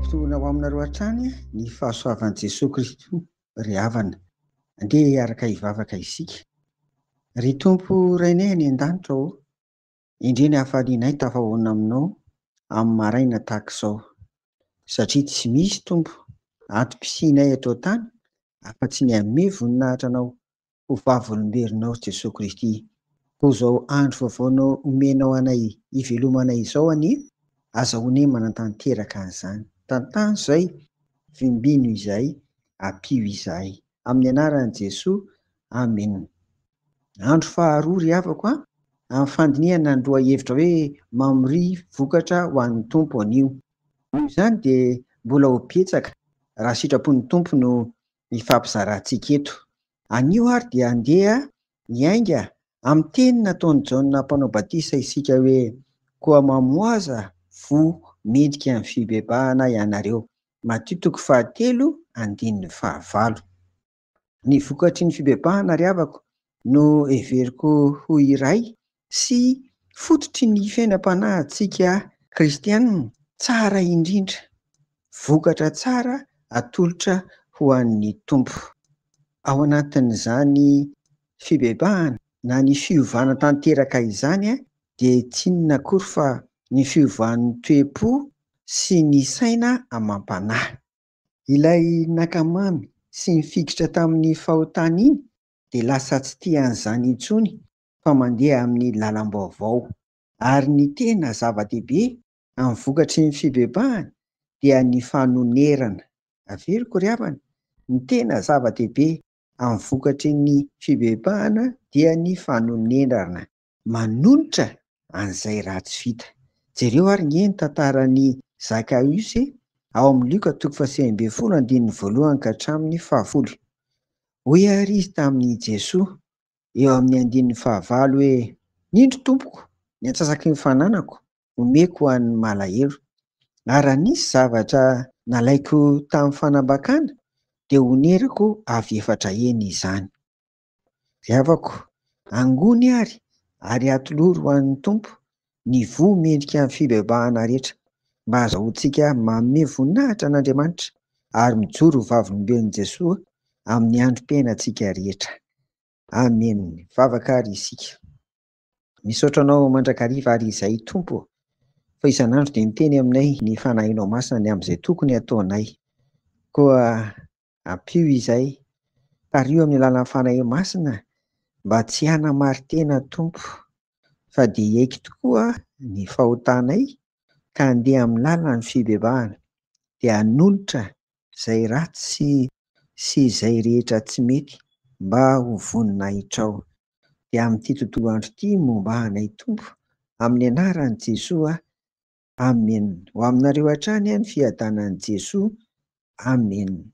Mampitony ho aminareo hatrany ny fahasoavan'i Jesoa Kristy ry havana. Andeha hiaraka hivavaka isika. Ry Tompo Rainay any an-danitra ô, endrey ny hafalianay tafahaona aminao amin'ny maraina tahaka izao. Satria tsy misy Tompo ato-pisianay eto an-tany afa-tsy ny hamehy voninahitra anao ho Vavolombelonao ry Jesoa Kristy koa izao andro vaovao omenao anay ivelomana izao anie aza one manatanteraka an'izany tantano izay vimbino izay ampio izahay amin'ny anaran'i Jesoa Amen Andro faharoa ry havako a amin'ny fandinihana ny lohahevitra hoe Mamoria vokatra ho an'ny Tompo anio noho izany dia mbola ho betsaka raha sitrapon'ny Tompo no ifampizarantsika eto. Anio ary dia andeha hiainga amin'ny teny nataon'i Jaona Mpanao Batisa isika hoe, Koa mamohaza fo midika ny fibebahana ianareo. Matio toko fahatelo andininy fahavalo. Ny vokatry ny fibebahana ry havako no heveriko ho iray sy fototry ny fiainam-panahintsika kristiana tsara indrindra, vokatra tsara atolotra ho an'ny Tompo. Ao anatin'izany fibebahana na ny fiovana tanteraka izany dia tsy inona akory fa ny fiovan'ny toe-po sy ny saina amam-panahy. Ilay naka-mamy sy nifikitra tamin'ny fahotany iny dia lasa tsy tia an'izany intsony fa mandeha amin'ny lalam-baovao. Ary ny tena zava-dehibe amin'ny vokatry ny fibebahana dia ny fanonerana. Averiko ry havana, ny tena zava-dehibe amin'ny vokatry ny fibebahana dia ny fanonerana. Manonitra an'izay ratsy vita. Jereo ary nge ny tantaran'i Zakaios e, ao amin'ny Lioka toko fahasivy ambin'ny folo andininy voalohany ka hatramin'ny fahafolo. Hoy ary izy tamin'i Jesoa, eo amin'ny andininy fahavalo hoe, Ny indro, tompoko, ny antsasaky ny fananako omeko ho an'ny malahelo, ary raha nisy zavatra nalaiko tamin'ny fanambakana dia honerako avy efatra heny izany. Ry havako, angony ary, ary atolory ho an'ny Tompo ny voa mendrika ny fibebahana rehetra, mba hahazahoantsika manome voninahitra an'Andriamanitra ary mijoro ho vavolombelon'i Jesoa amin'ny androm-piainantsika rehetra. Amen! Vavaka ary isika. Misaotra Anao mandrakariva ary izay Tompo ô, fa isan'andro dia miteny aminay ny Fanahinao Masina ny amin'izay tokony hataonay. Koa Ampio izay. Tariho amin'ny alalan'ny Fanahy Masina mba tsy hanamarin-tena Tompo, fa dia hiaiky tokoa ny fahotanay ka handeha amin'ny lalan'ny fibebahana, dia hanonitra izay ratsy sy izay rehetra tsy mety mba ho voninahitrao. Dia amin'ity tontolo andro ity momba anay Tompo, amin'ny anaran'i Jesoa Amen ho aminareo hatrany an fiadanan'i Jesoa Amen.